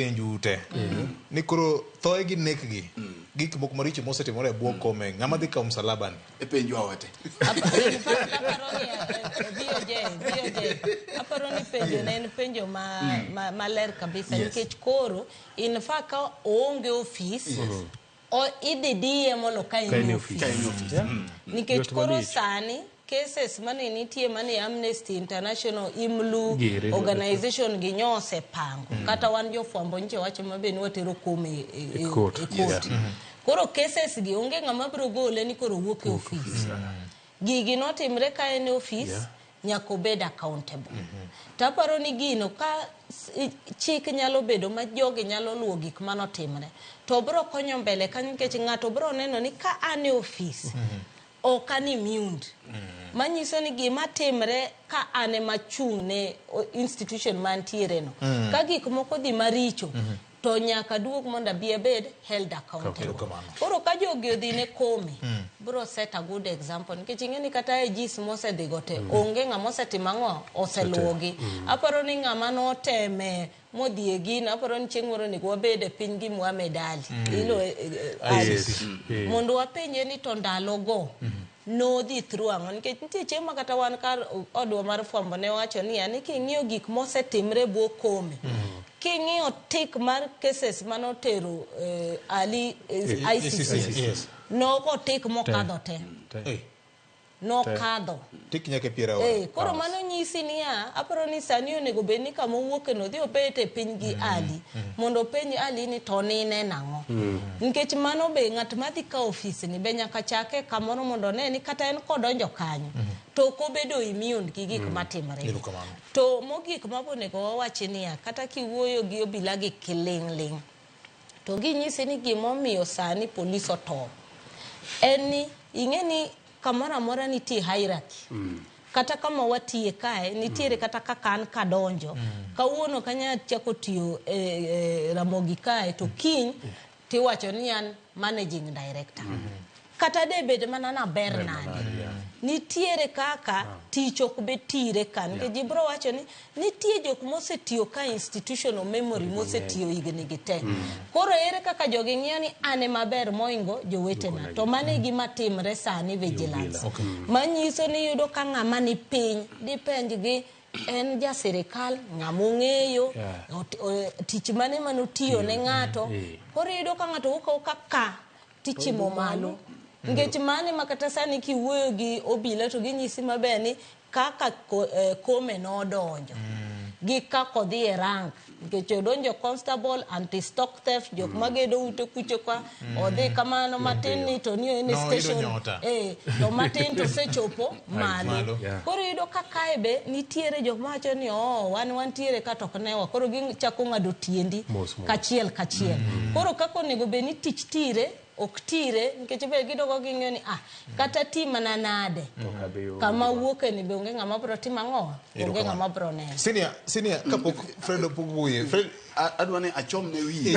penju ute ni koro thoye gi nek gi gik moko maricho mosetimore e bwo kome ng'ama dhi kawo msalabani e penju awate aparo ni penjo ne en penjo ma, ma, maler kabisa Yes. nikech koro in fa ka oonge ofis O, idhi diye mondo ka en e ofis. Yeah. Nikech Yot koro malich. sani cases mane nitie mane Amnesty International, IMLU, Gere. organization gi nyo osepango. Kata wan jofwambo nyiche wacho mabe ni watero kom e, e, e, Court. e koti. Koro cases gi onge ng'ama biro gole ni koro wuok e ofis. Gigi notimre ka en e office yeah. nyaka obed accountable. Mm -hmm. To aparo ni gino ka chik nyalo bedo ma jogi nyalo luwo gik ma notimre to obiro konyo mbele kanyo nikech ng'ato obiro neno ni ka an e office mm -hmm. ok an immune. Mm -hmm. manyiso ni gima timre ka an ema achung' ne institution mantiereno mm. ka gik moko dhi maricho mm -hmm. to nyaka duog mondo abi abed held accountable Erokamano. koro ka jogi odhi ne komi bro set a good example nikech ing'e ni kata e jis mosedhigo te onge ng'ama osetimo ang'o oseluwogi aparo ni ng'ama noteme modhi e gino aparo ni chieng' moro onego wabed e piny gi Muhammad Ali ilo eh, eh, Ali. ICC. Eh. mondo wapenje ni to ndalogo nodhi through ang'o nikech nitie chieng' ma kata wan kar odwa mar fwambo ne wacho ni ani king'iyo gik mosetimre bwo kome mm. king'iyo tik mar cases mane otero eh, ali eh, ICC yes. nogo tik mokadho te eh. nokadho tik nyaka piera ora eh, koro mano nyisi niya aparo ni sani onego bed ni kama owuoke no dhi obet e piny gi mm. ali mm. mondo openj ali ni to nine nang'o mm. Nikech mano be ng'at ma dhi kawo ofisni be nyaka chake kamoro mondo one ni kata en kodonjo kanyo to ok obedo immune gi gik mm. matimore. Erokamano. To mogik ma bonego wawachi niya kata kiwuoyo gi obila gi kiling'ling' to ginyisi ni gimomiyo sani polis otop en ni ing'e ni Kamoro amora nitie hierarchy. Mm. Kata kama watiye kae, nitiere mm. kata kaka an kadonjo. Mm. Kawuono kanya chako tiyo e, e, Ramogi kae, to mm. kiny mm. tiwacho ni an managing director. Mm -hmm. Kata de bed mana na ber nade. Nitiere kaka ah. tich ok be tire kan. Yeah. Gibro wacho ni Nitie jok mosetiyo ka institutional memory mosetiyo higni gi te. Mm. Koro ere kaka jogi ng'iyo ni an e maber moingo jowetena. To mano e gima timre sani vigilance. Manyiso ni yudo ka ng'ama ni piny dipenj gi en ja sirikal ng'ama ong'eyo yeah. tich mane mane otiyo ne ng'ato yeah. koro iyudo ka ng'ato wuok awuoka ka tichimo malo nikech mane ma kata sani kiwuoyo gi obila to ginyisi maber ni kaka kome nodonjo gi kaka odhi e rank nikech odonjo constable anti stock theft jok mm. magedo ute kucho kwa mm. odhi kamano matin ni to ni en no, station eh to matin to sechopo malo yeah. koro yudo ka kae be nitiere jok ma wacho ni oh wan wantiere ka to ne wa koro gichako ngado tiendi kachiel kachiel mm. koro kako nego be ni tich tire ok tire nikech be gidoko ging'eyo ni ah kata ti mana nade kama wuoke ni be onge ng'ama bro timo ang'o onge ng'ama bro neno senior senior kapok Fred opog wuoye Fred adwa ni achom ne wiye